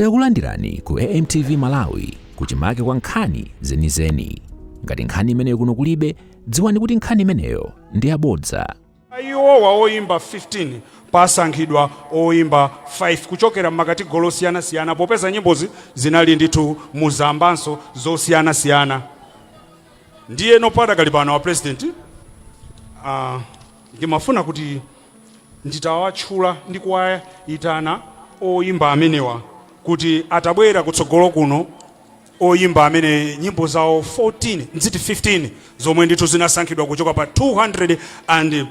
Takulandirani ku AMTV Malawi kuchimake kwa nkhani zenizeni. Ngati nkhani imeneyo kuno kulibe, dziwani kuti nkhani imeneyo ndi yabodza. Pa iwowa oyimba 15 pasankhidwa oyimba 5 kuchokera m'makatigolo osiyanasiyana popeza nyimbozi zinali ndithu mu zambanso zosiyanasiyana. Ndiyeno padakali pano a president ah, Ndimafuna kuti nditawatchula ndi kuwayitana oyimba amenewa kuti atabwera kutsogolo kuno, oyimba amene nyimbo zawo 14, ndziti 15 zomwe ndithu zinasankhidwa kuchoka pa 220.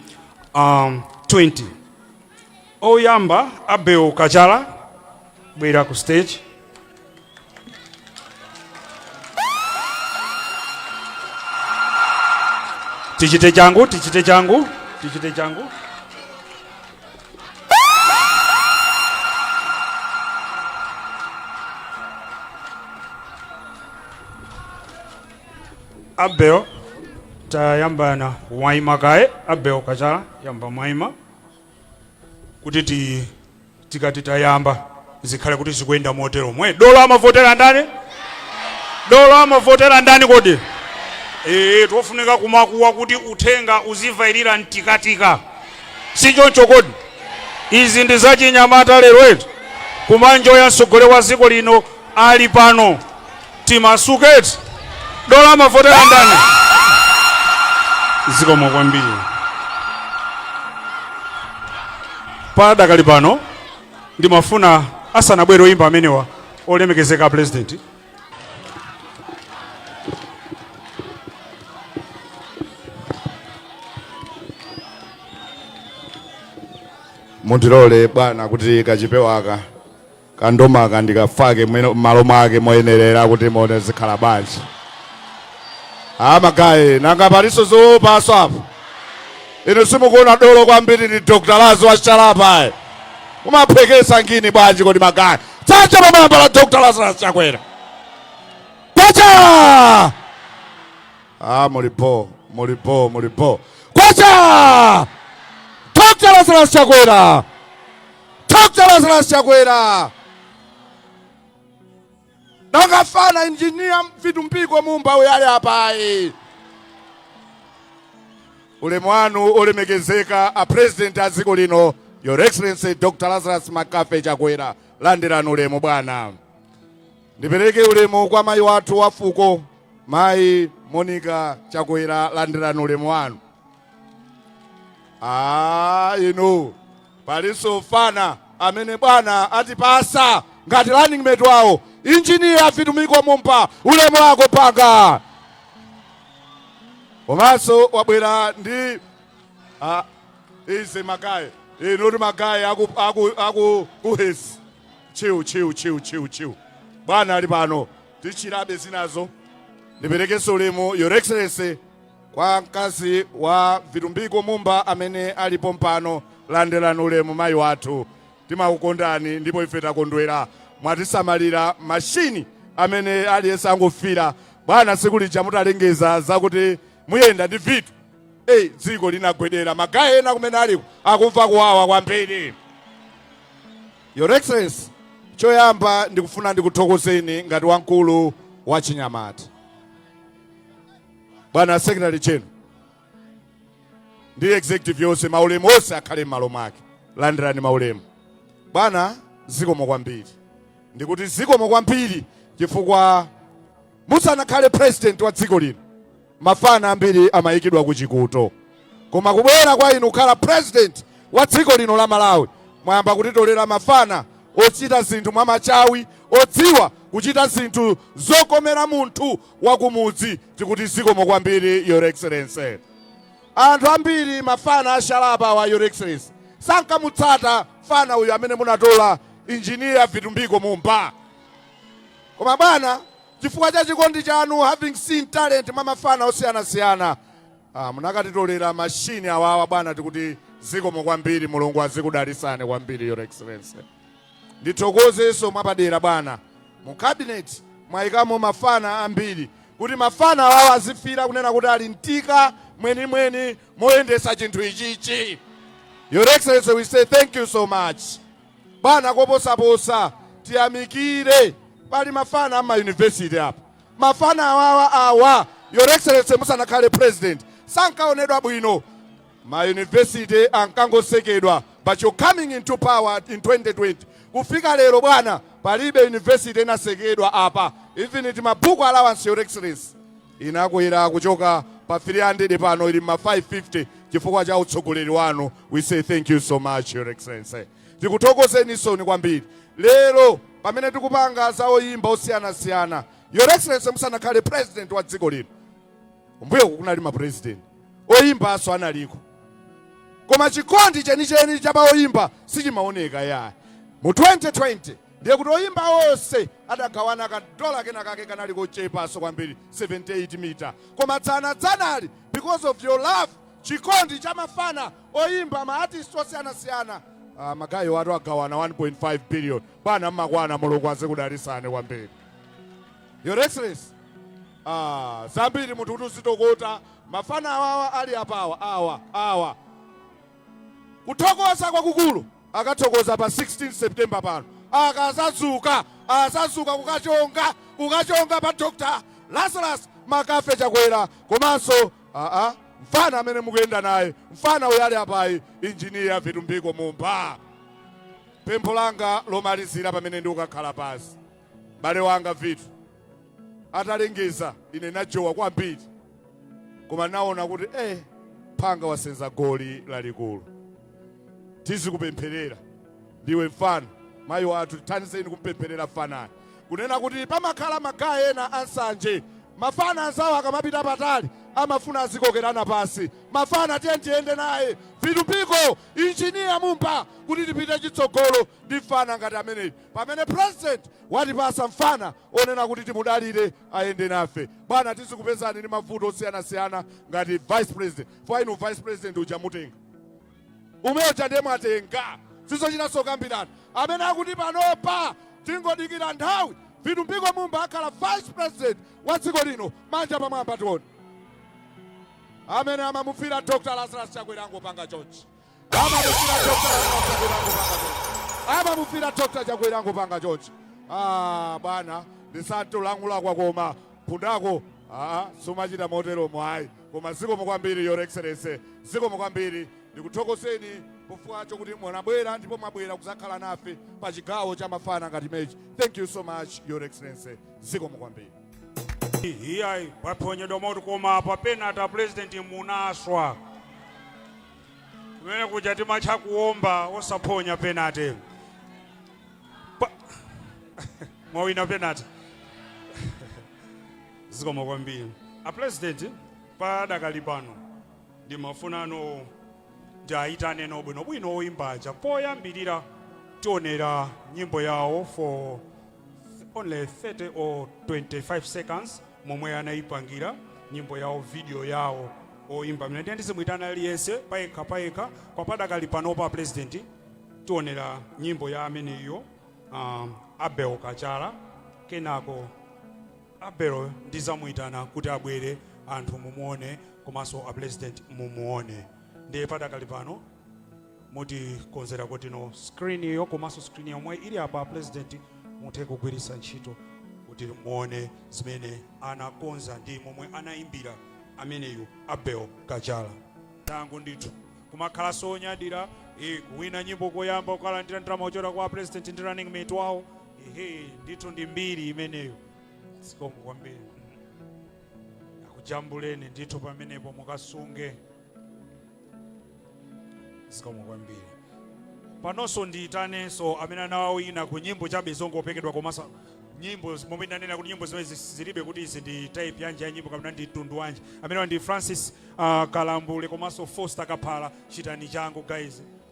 Oyamba Abel Kachala bwera ku stage. Tichite changu, tichite changu, tichite changu. Abel tayambani mwaima kaye Abel Kachala yamba mwaima. kuti ti tikati tayamba zikhale kuti zikuyenda motero mwe dolo amavotera ndani dolo amavotera ndani kodi ee tofunika kumakuwa kuti uthenga uzivairira mtikatika si choncho kodi izi ndi zachinyamata lero eti kumanjoya mtsogoleri wa dziko lino ali pano timasuke eti dolo amavotera ndani zikomo kwambiri padakali pano ndimafuna asanabwere oyimba amenewa olemekezeka a pulezidenti mundilole bwana kuti kachipewaka kandomaka ndikafake malo mwake moyenerera kuti muone zikhala bwanji amagaye nanga palinso zoopanso apo inu simukuona dolo kwambiri ndi dr laz wachalapa mumaphwekesa ngini bwanji kodi magaye tsatsa pamwamba la dr lazarus chakwera kwacha ah, mulipo mulipo mulipo kwacha dr lazarus chakwera Dr. Lazarus Chakwera nanga kafana injinia vitumbiko mumba uyu ali apayi ulemu wanu olemekezeka a president a dziko lino your excellency dr lazarus McCarthy chakwera landirani ulemu bwana ndipereke ulemu kwa mayi wathu wa fuko mayi monica chakwera landirani ulemu wanu Ah, inu Palinso fana amene bwana atipasa ngati running mate wawo engineer Vitumbiko Mumba ulemu wako mfana komanso wabwera ndi ah, ize magaye ndikuti magaye aku, aku, aku uhesi chiu chiu chiu chiu chiu bwana ali pano tichilape zinazo ndiperekenso ulemu your excellency Kwa mkazi wa Vitumbiko Mumba amene ali pompano, landirani ulemu mayi wathu. Timakukondani ndipo ife takondwera mwatisamalira machine amene aliyense angofira. Bwana tsiku lija mutalengeza zakuti muyenda ndi Vitu, hey, dziko linagwedera. Magaye ena kumene aliko akumva kuwawa kwambiri. Your Excellency, choyamba ndikufuna ndikuthokozeni ngati wamkulu wa achinyamata. bwana secretary general ndi executive yonse maulemu onse akhale m'malo mwake landirani maulemu bwana zikomo kwambiri ndikuti zikomo kwambiri chifukwa musanakhale president wa dziko lino mafana ambiri amayikidwa ku chikuto Koma kubwera kwa inu kukhala president wa dziko lino la Malawi mwayamba kutitolera mafana ochita zinthu mwa machawi odziwa kuchita zinthu zokomera munthu wa kumudzi tikuti zikomo kwambiri your excellency. Anthu ambiri mafana ashala apa awa your excellency sankamutsata fana uyu amene munatola engineer Vitumbiko Mumba koma bwana chifukwa cha chikondi chanu having seen talent mwa mafana osiyanasiyana Ah, munakatitolera machine awawa bwana, tikuti zikomo kwambiri, Mulungu azikudalisani kwambiri your excellency. Ndithokozenso mwapadera bwana, mu cabinet mwayikamo mafana ambiri kuti mafana awawa azifila kunena kuti ali mutika mwenimweni moyendesa chinthu ichichi. Your excellency, we say thank you so much bwana, koposaposa tiyamikire pali mafana ama university apa Mafana awawa awa your excellency musanakhale president sankaonedwa bwino ma university ankangotsekedwa but your coming into power in 2020 kufika lero bwana palibe university inatsekedwa apa even ti ma book allowance your excellency inakwera kuchoka pa 300 pano ili m'ma 550 chifukwa cha utsogoleri wanu we say thank you so much your excellency Tikuthokozeninsoni kwambiri lero pamene tikupanga za oyimba osiyanasiyana. Your Excellency musanakhale president wa dziko lino, kumbuyoku kunali ma president, oyimbanso analiko koma chikondi chenicheni cha pa oyimba sichimaoneka yaya. Mu 2020 ndiye kuti oyimba onse adagawana ka dola kena kake kanali kochepanso kwambiri 78 mita koma dzana dzanali because of your love chikondi cha mafana oyimba ma artist osiyanasiyana ah, magaye athu agawana 1.5 billion bwana mmakwana mulungu azikudalisani kwambiri your excellency ah, zambiri munthu kuti uzitokota mafana awawa ali apawa awa awa kuthokoza kwakukulu akathokoza pa 16 september pano akazazuka azazuka kukachonga kukachonga pa dr lazarus McCarthy chakwera komanso mfana amene mukuyenda naye mfana uyu ali apayu engineer vitumbiko mumba pempho langa lomalizira pamene ndikukhala pasi bale wanga vitu atalengeza ine najowa kwambiri koma naona kuti eh phanga wasenza goli lalikulu tizikupempherera ndiwe mfana mayi athu tithandizeni kumpempherera mfanayo kunena kuti pamakhala ma guy ena a nsanje, mafana anzawo akamapita patali amafuna azikokerana pasi, mafana tiyeni tiyende naye Vitumbiko, engineer Mumba kuti tipite chitsogolo ndi mfana ngati ameneyi pamene president watipasa mfana onena kuti timudalire ayende nafe. Bwana tizikupezani ndi mavuto osiyanasiyana ngati vice president chifukwa inu vice president uja mutenga. Umeyo uja nde mwatenga sizochitanso kukambirana amene akuti panopa tingodikira nthawi vitumbiko mumba akhala vice president wa dziko lino manja pamwamba tione amene amamufira dr lazarus chakwera angopanga chonchi amamufira dr chakwera angopanga chonchi ah bwana ndisatolankhula kwa koma phunduko aa sumachita motero mwayi Koma zikomo kwambiri Your Excellency, zikomo kwambiri. Ndikuthokozeni pachifukwa chokuti munabwera ndipo mwabwera kuzakhala nafe pa chigawo cha mafana ngati mechi. Thank you so much Your Excellency, zikomo kwambiri. Iyayi paphonyedwa moti koma pa penate a president munaswa kumene kuja timatcha kuomba osaphonya penate mwawina penate Zikomo kwambiri a President padakali pano ndimafunano ndiayitaneno bwino bwino oyimba aja poyambirira tionera nyimbo yawo for only 30 or 25 seconds momwe anayipangira nyimbo yawo video yawo oyimba mene ndiye ndizimuyitana aliyense payekha payekha kwa padakali pano a president tionera nyimbo ya ameneyo um, Abel Kachala kenako Abel ndizamuitana kuti abwere anthu mumuone komanso a president mumuone ndiye padakali pano mutikonzera kotino screen iyo komanso screen yomwe ili apa a president muthe kugwiritsa ntchito kuti muone zimene anakonza ndi momwe anaimbira ameneyu abel kachala tangu ndithu kumakhala nzonyadira eh, kuwina nyimbo koyamba kukalandira ndalama kuchokera kwa president ndi running mate wawo Ehe, ndithu ndi mbiri imeneyo zikomo kwambiri akujambuleni ndithu pamenepo mukasunge zikomo kwambiri panonso ndiyitanenso amene anawawina ku nyimbo chabe zongopekedwa komanso nyimbo momwe ndanena kuti nyimbo zimene zis- zilibe kuti izi ndi type yanji ya nyimbo kapena ndi mtundu wanji amene ndi francis uh, kalambule komanso foster kaphala chitani changu guys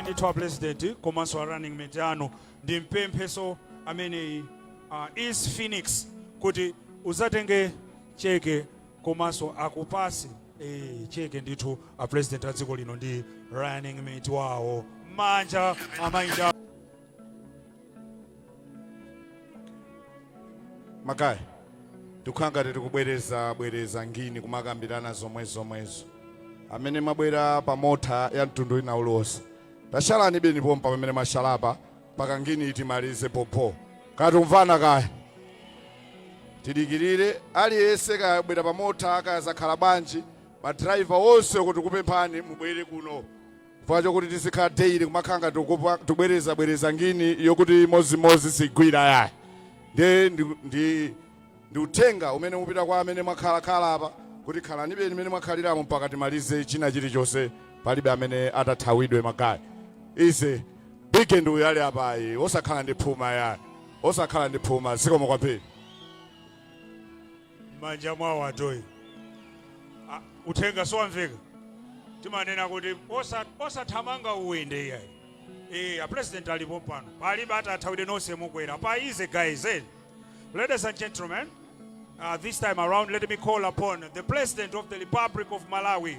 ndithu a president komanso a running mate anu ndimpemphenso ameneyi a east phoenix kuti uzatenge cheke komanso akupatse eh, cheke ndithu a president a dziko lino ndi running mate wawo manja amainja makaya tikukhala ngati tikubwereza bwereza ngini kumakambirana zomwe zomwezo amene mwabwera pa mota ya mtundu wina uliwonse tatsalanibeni pompa pamene mwatsalapa mpaka ngini timalize pompo kaya tikumvana kaya tidikirire aliyense kayabwera pa mota kaya zakhala bwanji madrayiva onse tikukupemphani mubwere kuno Chifukwa chokuti tizikhala daily kumakhala ngati tikupa- tikubwereza bwereza ngini yokuti imodzimodzi sigwira yayi nde ndi, ndi, ndi uthenga umene ukupita kwa amene mwakhala khala apa kuti khalanibeni mmene mwakhaliramo mpaka timalize china chilichonse palibe amene atathawidwe magaye ize big ndi uyu ali apayi osakhala ndi phuma yayi osakhala ndi phuma zikomo kwambiri m'manja mwawo atoyi A- uthenga siwamveka timanena kuti osa- osathamanga ulendo iyayi Eh, a president ali pompano palibe atathawidwe nonse mukwera pa easy guys eh? ladies and gentlemen uh, this time around let me call upon the president of the republic of malawi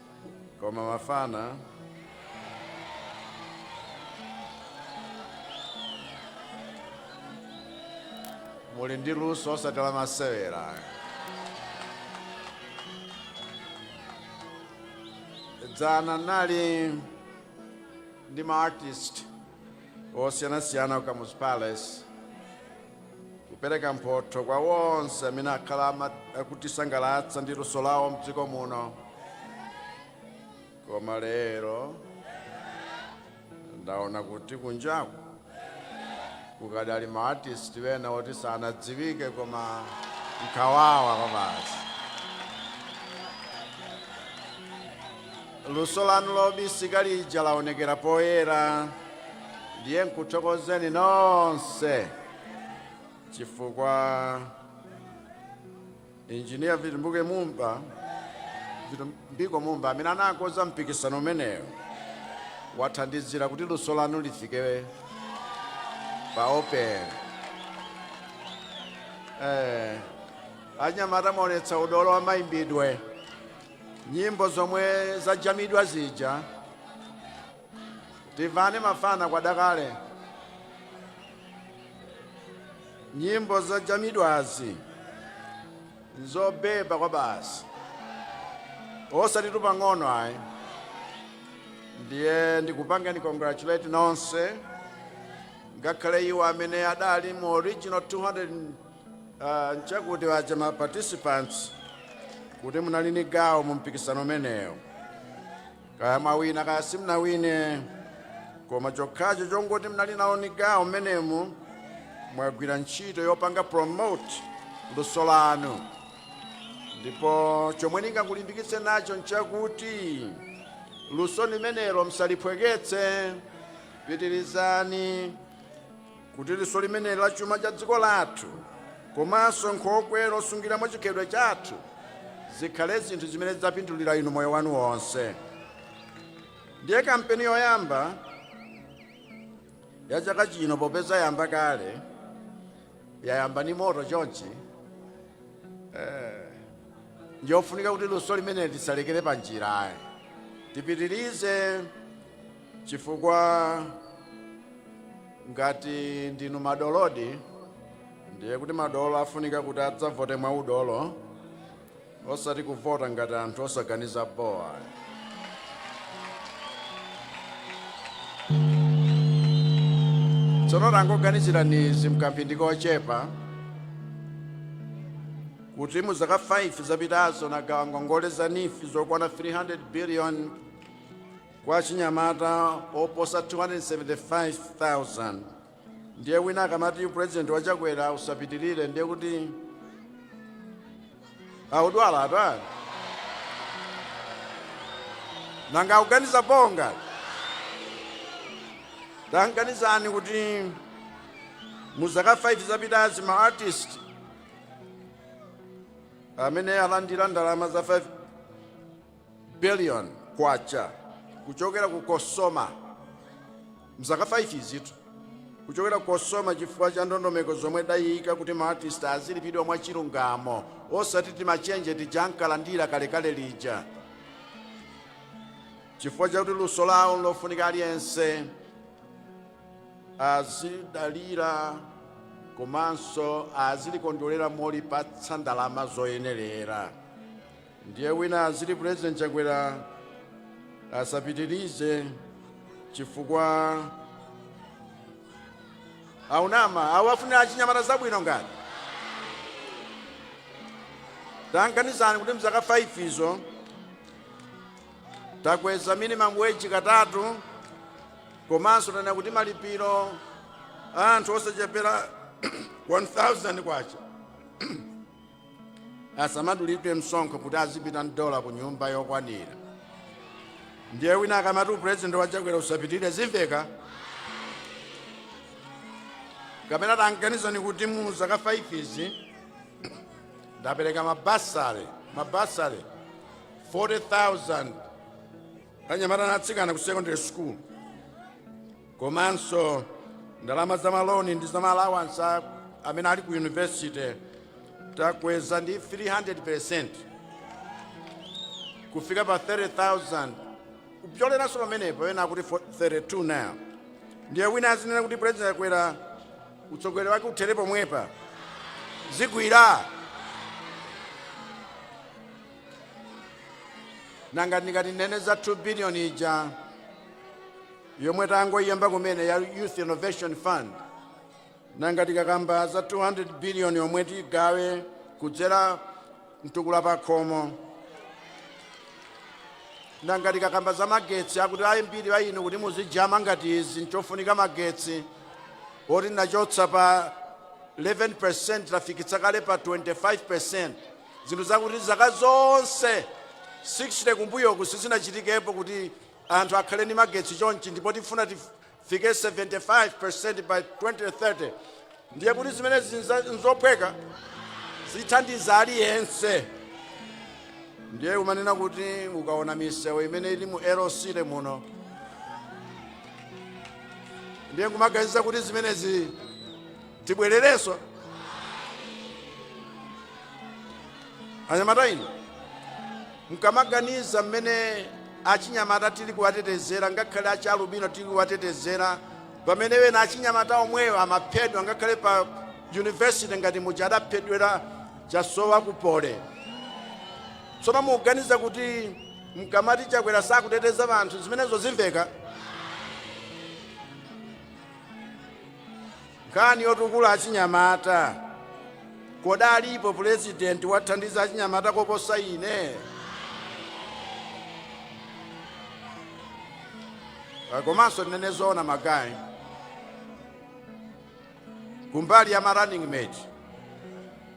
koma mafana muli ndi luso osati la masewera dzana nali ndi ma artist osiyanasiyana ku Kamuzu Palace kupereka mphotho kwa onse amene akhala akutisangalatsa ndi luso lawo mdziko muno koma lero ndaona kuti kunjaku kukadali maartisti wena oti sanadziwike koma nkhawawa kwabasi luso lanu lobisika lija laonekera poyera ndiye nkuthokozeni nonse chifukwa injiniya vitu- vitumbiko mumba amene anakonza mpikisano umenewo wathandizira kuti luso lanu lifike pa open anyamata mwaonetsa udolo wa mayimbidwe nyimbo zomwe zajamidwa zija tivane mafana kwadakale nyimbo zajamidwazi nzobeba kwa basi osati pang'ono ayi ndiye ndikupangeni congratulate nonse ngakhale iwo amene adali mu original 200 nchakuti waja ma participants kuti munali ni gawo mu mpikisano umenewu kaya mwawina kaya simunawine koma chokhacho chongoti munali nawo ni gawo mmenemu mwagwira ntchito yopanga promote luso lanu ndipo chomwe ndingakulimbikitseni nacho nchakuti luso limenelo msaliphweketse pitirizani kuti luso limeneli la chuma cha dziko lathu komanso nkhokwe losungiramo chikhalidwe chathu zikhale zinthu zimene zidzapindulira inu moyo wanu wonse ndiye kampeni yoyamba ya chaka chino popeza yamba kale yayamba ndi moto chonchi ndiyofunika kuti luso limeneli tisalekere pa njira ayi tipitirize chifukwa ngati ndinu madolodi ndiye kuti madolo afunika kuti adzavote mwa udolo osati kuvota ngati anthu osaganiza bowa tsono tangoganizirani izi mkamphindi kochepa kuti mu zaka 5 zapitazo nagawa ngongole za NEEF zokwana 300 billion Kwa achinyamata oposa 275,000 ndiye wina akamati upurezidenti wa Chakwera usapitirire ndiye kuti audwala ati nanga akuganiza bwanji taganizani kuti mu zaka 5 zapitazi ma artist amene alandira ndalama za 5 billion Kwacha kuchokera ku Cosoma mzaka 5 izitu kuchokera ku Cosoma chifukwa cha ndondomeko zomwe ndayika kuti ma artist azilipidwa mwa chilungamo osati timachenje tija ankalandira kalekale lija chifukwa chakuti luso lawo nlofunika aliyense azidalira komanso azilikondwerera molipatsa ndalama zoyenerera Ndiye wina aziti president chakwera asapitilize chifukwa akunama akuwafunira achinyamata zabwino ngati taganizani kuti mzaka 5 izo takweza minimum wage katatu komanso tanena kuti malipiro a anthu osachepera 1000 kwacha asamadulidwe msonkho kuti azipita ndalama ku nyumba yokwanira ndiye wina akamati upurezidenti wa chakwera usapitirire zimveka kapena taganizani kuti mu zaka 5 izi ndapereka mabasale 40000 kwa anyamata na atsikana ku secondary school komanso ndalama za maloni ndi za maalawansi a- amene ali ku yunivesite takweza ndi 300% kufika pa 30000 kupyoleranso pamenepo ena akuti fo- 32 now ndiye wina azinena kuti president chakwera utsogoleri wake uthere pomwepa zigwira nanga ndikati ndinene za 2 billion ija yomwe tangoyiyamba kumene ya Youth Innovation Fund. Nanga tikakamba za 200 billion yomwe tigawe kudzera mtukula pakhomo. Nanga tikakamba za magetsi akuti ambiri a inu kuti muzijama ngati izi nchofunika magetsi oti tachotsa pa 11% tafikitsa kale pa 25% zinthu zakuti zaka zonse 60 kumbuyoku sizinachitikepo kuti Anthu akhale ndi magetsi chonchi ndipo tifuna tifike 75% by 2030 ndiye kuti zimenezi nzophweka? Zithandiza aliyense. Ndiye kumanena kuti ukaona misewu imene ili mu LUSO muno ndiye nkumaganiza kuti zimenezi tibwererenso? Anyamata inu, mkamaganiza mmene achinyamata tili kuwatetezera ngakhale achialubino tili kuwatetezera pamene ena achinyamata omwewo amaphedwa ngakhale pa yunivesite ngati muja adaphedwera Chasowa ku Poly tsono mukuganiza kuti mkamati Chakwera sakuteteza vanthu zimenezo zimveka Nkhani yotukula achinyamata. Kodi alipo pulezidenti wathandiza achinyamata koposa ine? Ah, Komanso tinene zoona magayi. Kumbali ya ma running mate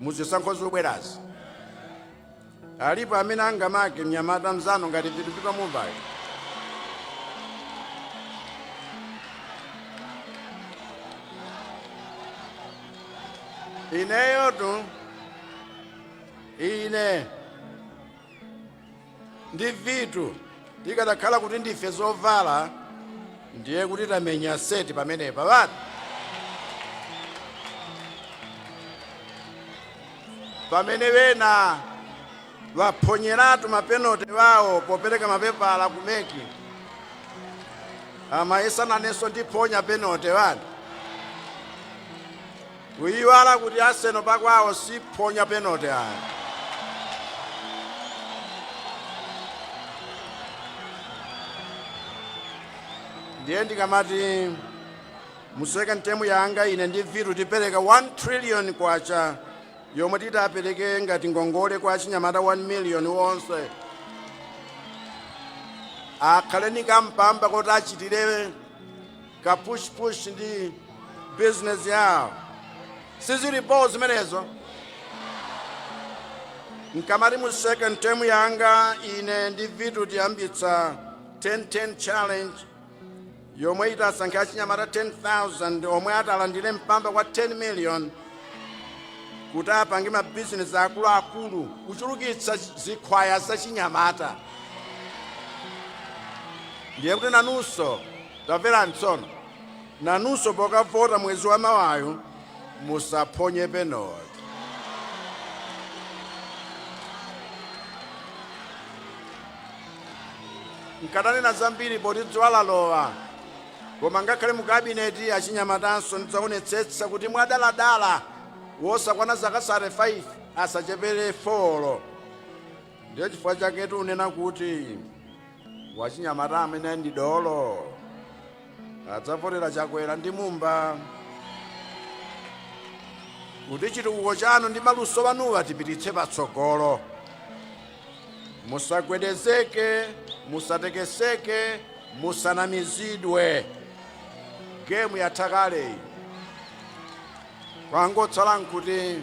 muzisankho zobwerazi. Alipo amene angamake mnyamata mzanu ngati Vitumbiko Mumbayu? Ineyotu ine ndi Vitu Tikadakhala kuti ndife zovala ndiye kuti tamenya seti pamenepa bati. Pamene wena waphonyeratu mapenote wawo popereka mapepala ku MEC amayesa nanenso ndiphonya penote bati. Kuyiwala kuti Arsenal pakwawo siphonya penalty ayi. Ndiye ndikamati mu second term yanga ine ndi Vitu tipereka 1 trillion kwacha yomwe titapereke ngati ngongole kwa achinyamata 1 million wonse akhale ni kampamba koti achitire ka push push ndi business yawo sizili boo zimenezo mkamati mu second term yanga ine ndi Vitu tiyambitsa 1010 challenge yomwe itasankha achinyamata 10000 omwe atalandire mpamba kwa 10 million kuti apange mabizinesi akuluakulu kuchulukitsa zikhwaya zachinyamata ndiye kuti nanunso Tamverani tsono, nanunso pokavota mwezi wa mawayu, musaphonye penote. Nkatanena zambiri poti dzuwa lalowa, koma ngakhale mu kabineti achinyamatanso ndidzaonetsetsa kuti mwadaladala osakwana zaka 35 asachepere folo. Ndiye chifukwa chake tikunena kuti wachinyamata amene ndi dolo adzavotera chakwera ndi mumba kuti chitukuko chanu ndi maluso anuwa tipititse patsogolo musagwedezeke musatekeseke musanamizidwe gemu yatha kale kwangotsala nkuti